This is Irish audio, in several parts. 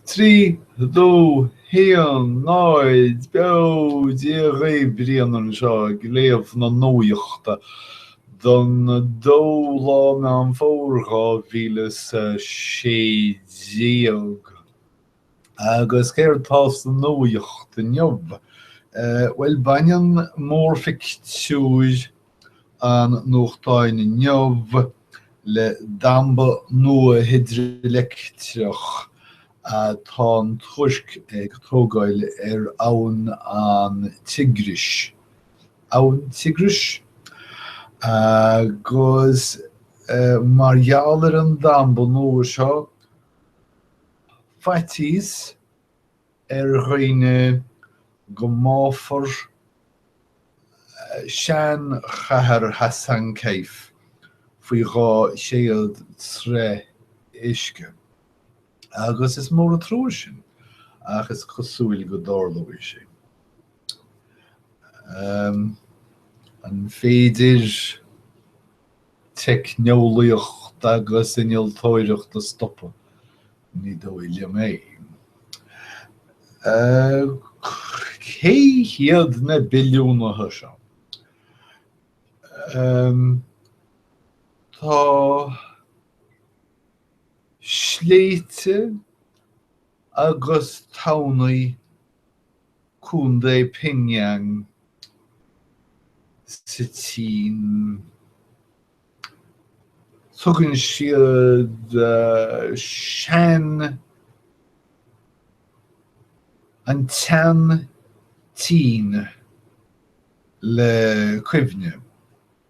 Trí dó haon náid beo Dia dhaoibh, Brian anseo ag léamh na nuachta don 2 lá Meán Fómhair 2016. Agus céard tá sa nuacht inniu? Bhuel, baineann mórphictiúr an nuachtáin inniu, le damba nua hidrileictreach, atá an Tuirc ag tógáil ar abhainn an Tigris, abhainn Tigris? agus mar gheall ar an damba nua seo, faitíos, ar dhaoine go mbáfar sean-chathair Hasankeyf faoi dhá chéad troigh uisce, agus is mór an trua sin, ach is cosúil go dtarlóidh sé. An féidir. teicneolaíocht agus innealtóireacht a stopadh. Ní dóigh liom é. Cé hiad na billiúnaithe seo? Tá sléibhte agus tamhnaí Contae Pingyang sa tSín. Tugann siad sean an tSean tSín le cuimhne.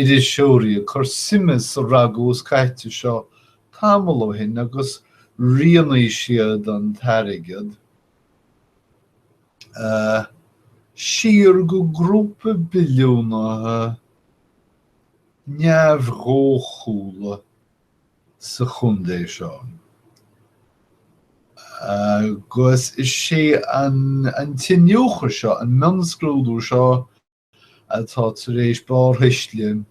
iriseoirí ag cur suime sa ragús caite seo tamall ó shin agus rianaigh siad an t-airgead siar go grúpa billiúnaithe neamhdhóchúla sa chontae seo agus is é an t-iniúchadh seo, an mionscrúdú seo, atá tar éis barrthuisle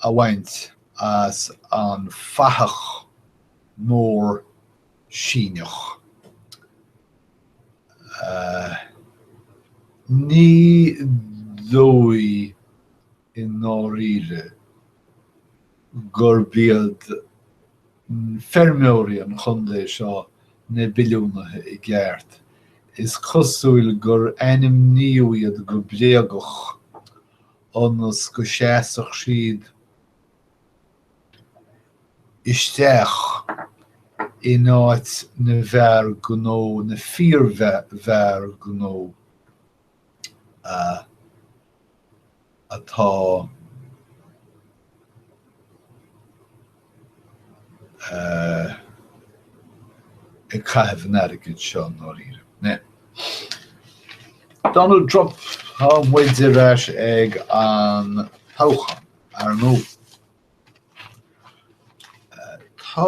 a bhaint as an bhfathach mór Síneach. Ní dóigh i ndáiríre gurb iad feirmeoirí an chontae seo na billiúnaithe i gceart, is cosúil gur ainmníodh iad go bréagach ionas go seasfadh siad isteach in áit na bhfear gnó, na fíorfhear gnó. atá ag caitheamh an airgid seo i ndáiríre. Donald Trump, tá muid ar ais ag an toghchán, ar ndóigh. Tá.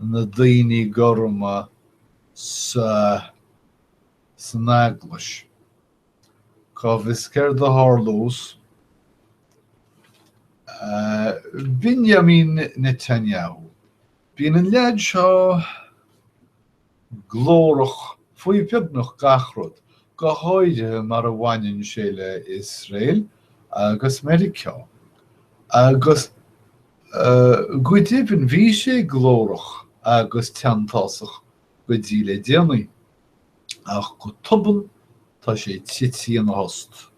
na daoine gorma san eaglais. Cá bhfios céard a tharlós? Benjamin Netanyahu. Bíonn an leaid seo glórach faoi bheagnach gach rud, go háirithe mar a bhaineann sé le hIosrael agus Meiriceá, agus go deimhin bhí sé glórach agus teanntásach go dtí le déanaí, ach go tobann tá sé tití ina thost.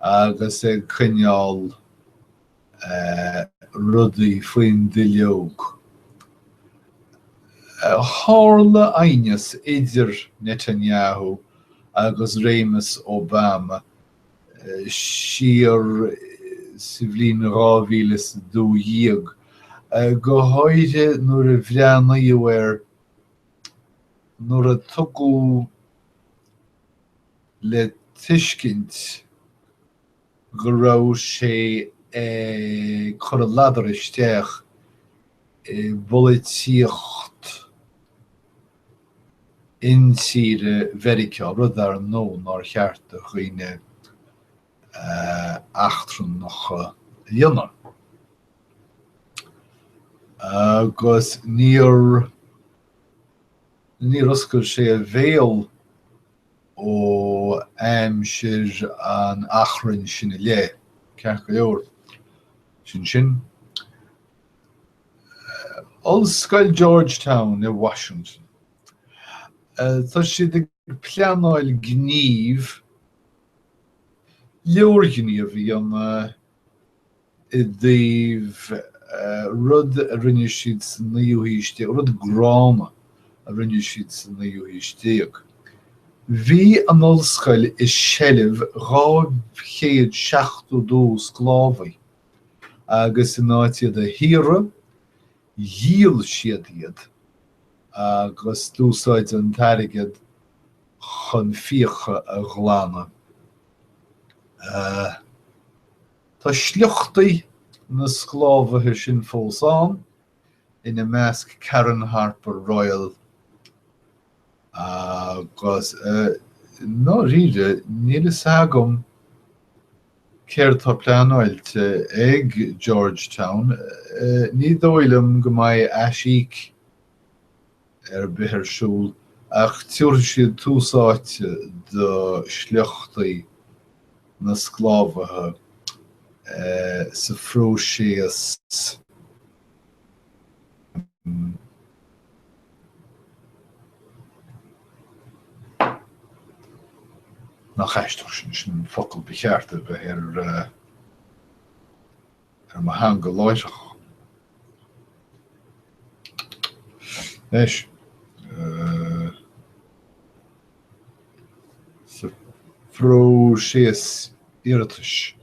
agus ag coinneáil rudaí faoin duilleog. Tharla aighneas idir Netanyahu agus réimeas Obama siar sa bhliain 2012, go háirithe nuair a bhreathnaíodh air nuair a tugadh le tuiscint go raibh sé ag cur a ladar isteach i bpolaitíocht intíre Mheiriceá, rud, ar ndóigh, nár cheart do dhaoine eachtrannacha a dhéanamh. Agus níor oscail sé a bhéal ó aimsir an achrainn sin i leith, ceart go leor. Sin sin. Ollscoil Georgetown i Washington. Tá siad ag pleanáil gníomh, leorghníomh a dhéanamh, i dtaobh rud a rinne siad sa naoú haois déag, rud gránna a rinne siad sa naoú haois déag. Bhí an ollscoil i seilbh 272 sclábhaí, agus in áit iad a shaoradh, dhíol siad iad agus d'úsáid an t-airgead chun fiacha a ghlanadh. Tá sliochtaí na sclábhaithe sin fós ann, ina measc Karen Harper Royal agus, i ndáiríre, níl fhios agam céard atá pleanáilte ag Georgetown, ní dóigh liom go mbeidh aisíoc ar bith ar siúl, ach tiúrfaidh siad tús áite do shliochtaí na sclábhaithe sa phróiseas nach aisteach. Sin an focal ba cheart a bheith ar mo theanga láithreach. Anois, sa phróiseas iarratais,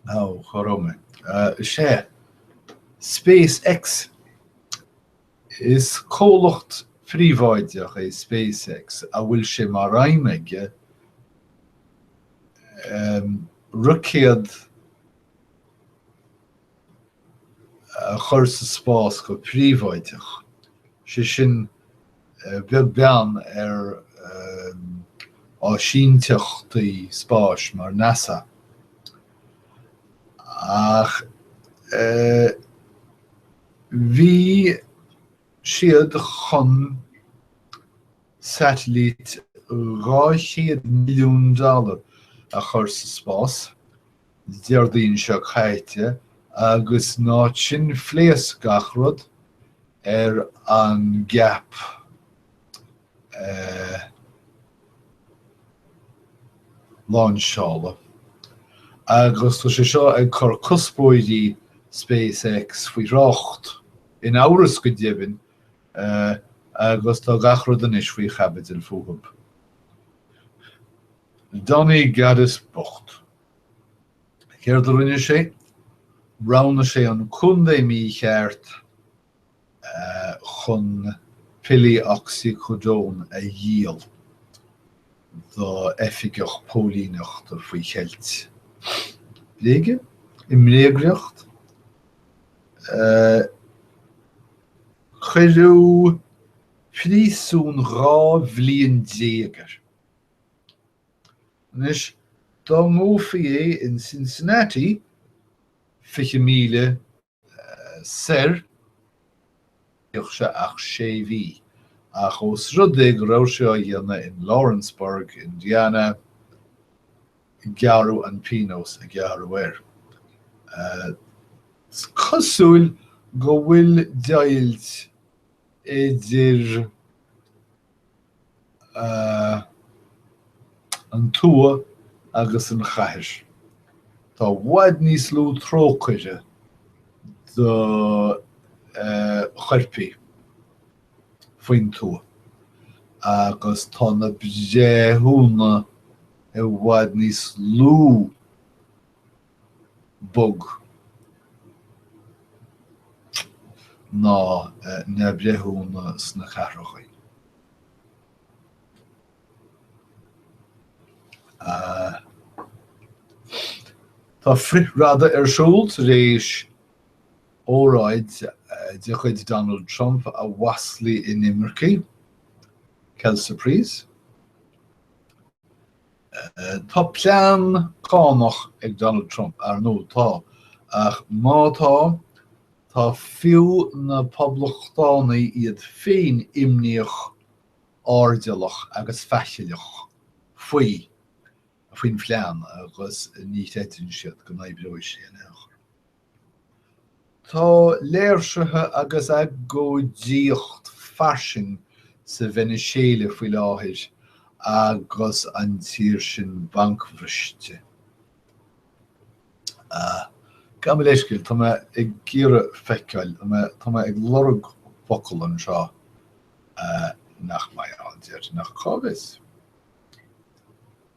ó cá raibh mé, is ea, Space X. Is comhlacht príobháideach é SpaceX a bhfuil sé mar aidhm aige roicéad a chur sa spás go príobháideach, sé sin beag beann ar áisíneachtaí spáis mar NASA. Ach. Bhí siad chun satailít 200 milliún dollar a chur sa spás Déardaoin seo caite agus in áit sin phléasc gach rud ar an gceap. láinseála, agus tá sé seo ag cur cuspóirí SpaceX faoi thrácht, in amhras go deimhin, agus tá gach rud anois faoi chaibidil fúthu. Donnie Gaddis bocht. Céard a rinne sé? Roghnaigh sé an contae mícheart. chun pillí oxycodone a dhíol d'oifigeach póilíneachta faoi cheilt bréige, i mbréagriocht. Cuireadh príosún dhá bhliain déag air. Anois, dá ngabhafaí é in Cincinnati, fiche míle soir, bheadh sé ach sé mhí, ach ós rud é go raibh sé á dhéanamh in Lawrenceburg, Indiana, gearradh an pionós a gearradh air. Cosúil go bhfuil deighilt idir. an tuath agus an chathair. Tá i bhfad níos lú trócaire do choirpigh faoin tuath agus tá na breithiúna i bhfad níos lú. bog ná na breithiúna sna cathracha. Tá frith-radadh ar siúl tar éis óráid de chuid Donald Trump a mhaslaigh inimircigh, quelle surprise. Tá plean cánach ag Donald Trump, ar ndóigh, tá, ach má tá, tá fiú na Poblachtánaigh iad féin imníoch, airdeallach agus faichilleach faoi, faoin phlean agus ní chreideann siad go n-oibreoidh sé in aon chor. Tá léirsithe agus agóidíocht fairsing sa Veiniséala faoi láthair agus an tír sin bancbhriste. Gabh mo leithscéal, tá mé ag iarraidh feiceáil, tá mé ag lorg focal anseo nach mbeidh ann, déarfainn, ach cá bhfios?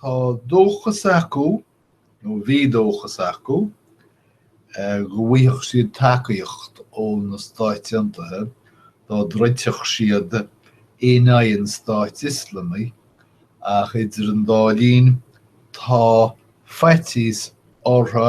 Tá dóchas acu, nó bhí dóchas acu, go bhfaighfeadh siad tacaíocht ó na Stáit Aontaithe dá dtroidfeadh siad in aghaidh an Stáit Ioslamaigh, ach idir an dá linn tá faitíos orthu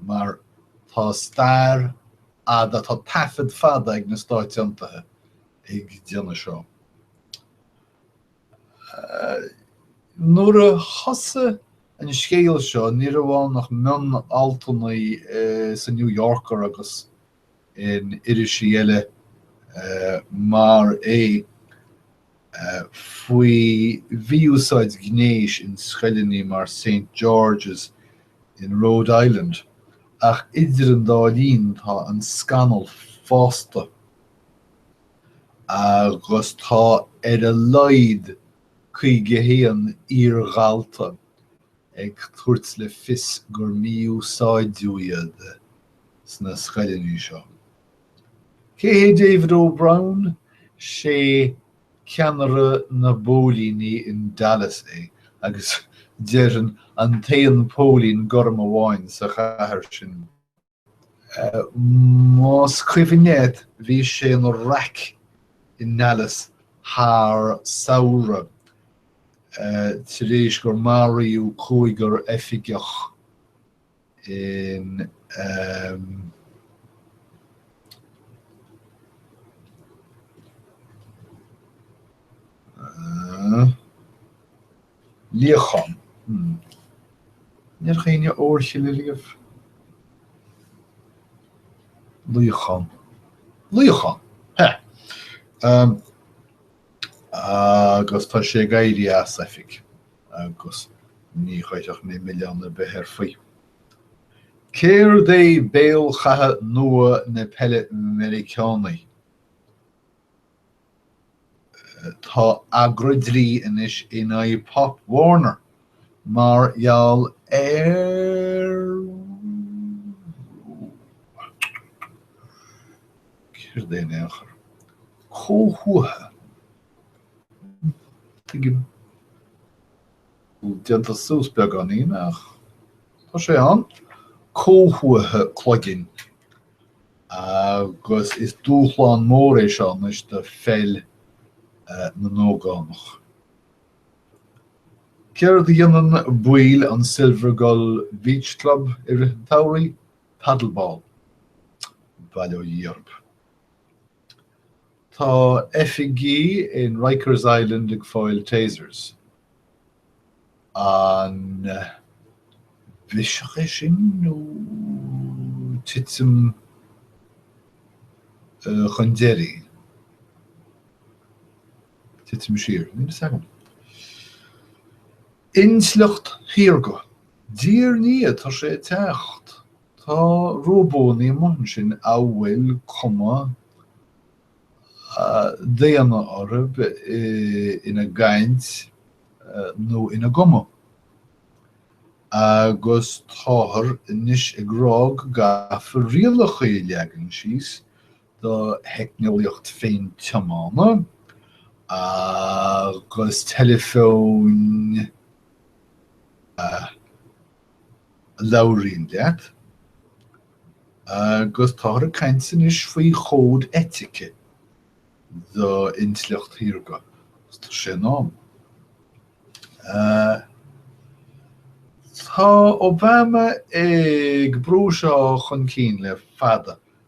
mar tá stair fhada, tá taifead fada ag na Stáit Aontaithe ag déanamh seo. Nuair a thosaigh an scéal seo, ní raibh ann ach mion-altanna sa New Yorker agus in irisí eile mar é. faoi mhí-úsáid ghnéis in scoileannaí mar Saint George's in Rhode Island, ach idir an dá linn tá an scannal fásta, agus tá ar a laghad 51 iar-dhalta ag tabhairt le fios gur mí-úsáideadh iad sna scoileannaí seo. Cé hé David O Brown? Sé ceannaire na bpóilíní in Dallas é agus déarfainn an t-aon póilín gorm amháin sa chathair sin. Más cuimhin leat bhí sé ina raic i nDallas thar samhradh tar éis gur maraíodh cúigear oifigeach. in um, uh, líochán. Hmm. Níor chaoine oraibhse riamh. Líochán. Líochán. He. Um, agus tá sé ag éirí as oifig. agus ní chuirfidh mé milleán ar bith air faoi. Céard é béal chatha nua na peile Meiriceánaí? Tá agra dlí anois in aghaidh Pop Warner mar gheall ar céard é in aon chor? comhthuatha. Déanta suas beagáinín ach tá sé ann. Comhthuatha cloiginn agus is dúshlán mór é seo anois do pheil na n-ógánach. Céard a dhéanann baill an Silvergull Beach Club i rith an tsamhraidh? Paddleball. Bail ó Dhia ort. Tá oifigigh in Rikers Island ag fáil Tasers. An biseach é sin nó titim chun deiridh? Titim siar? Níl 'fhios agam. Intleacht shaorga. A Thiarna, tá sé ag teacht. Tá róbónaí amuigh ansin a bhfuil cuma daonna orthu ina gcaint nó ina gcuma, agus táthar anois ag rá go gcaithfear rialacha a leagan síos do theicneolaíocht féin-tiomána agus teileafóin a. labhraíonn leat, agus táthar ag caint anois faoi chód eitice d'intleacht shaorga, tá sé in am. Tá Obama ag brú seo chun cinn le fada.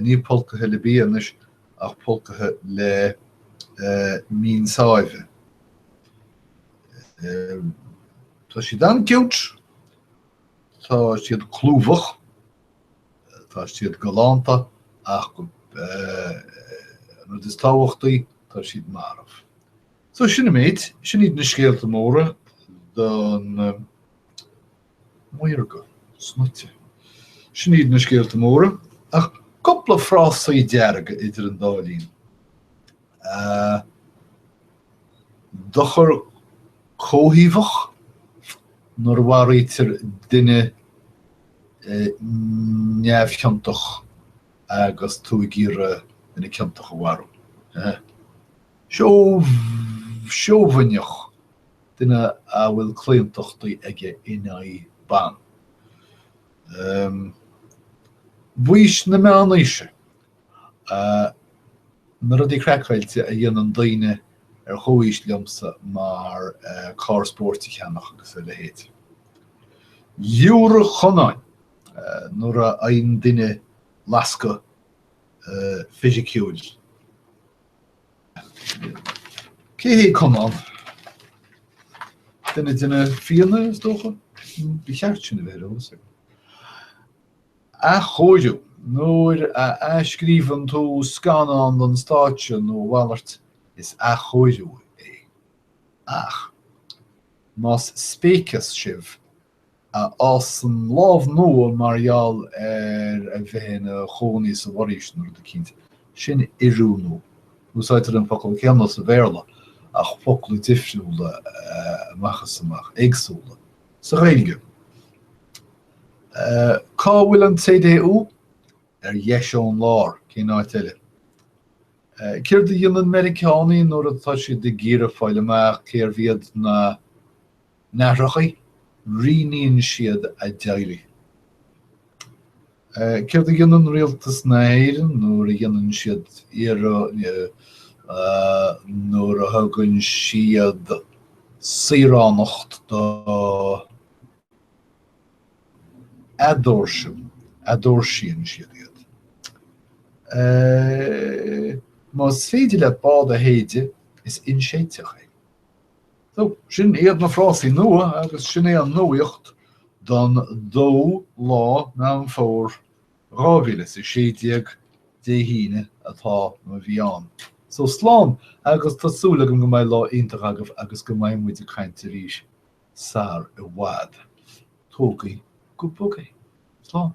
Ní pulcaithe le bia anois ach pulcaithe le min sáibhe. Tá siad an-cute. Tá siad clúmhach. Tá siad galánta ach an rud is tábhachtaí, tá siad marbh. So sin an méid. Sin iad na scéalta móra don. maorga, snoite. Sin iad na scéalta móra, ach cúpla frásaí dearga idir an dá linn. Dochar comhthaobhach, nuair a mharaítear duine neamhchiontach agus tú ag iarraidh duine ciontach a mharú. Seobhaineach. duine a bhfuil claontachtaí aige in aghaidh ban. Um baois na meánaoise, na rudaí craiceáilte a dhéanann daoine ar chomhaois liomsa mar carr spóirt a cheannach agus a leithéid. Liúradh Chonáin nuair a fhaigheann duine lascadh fisiciúil. Cé hé Conán? Duine de na Fianna is dócha? Ba cheart sin a bheith ar eolas agam. Athchóiriú, nuair a athscríobhann tú scannán don stáitse nó a mhalairt, is athchóiriú é. Ach más spéiceas sibh, a fhásann lámh nua mar gheall ar a bheith ina chónaí sa bhforaois nó rud eicínt, sin oiriúnú. Úsáidtear an focal céanna sa Bhéarla ach focla difriúla amach is amach, éagsúla sa Ghaeilge. Cá bhfuil an CDU? Ar dheis ón lár, cén áit eile? Céard a dhéanann Meiriceánaigh nuair atá siad ag iarraidh fáil amach cérbh iad na. n-aithreacha, rianaíonn siad a dteaghlaigh. Céard a dhéanann rialtas na hÉireann nuair a dhéanann siad nuair a thugann siad saoránacht do eadóirsean, eadóirsíonn siad iad? Más féidir leat bád a shéideadh, is inséidteach é. So, sin iad na frásaí nua agus sin é an nuaíocht don dó lá Meán Fómhair 2016, Dé hAoine, atá, nó a bhí ann. So, slán agus tá súil agam go mbeidh lá iontach agaibh agus go mbeidh muid ag caint arís sar i bhfad. Tógaí go bog é. Slán.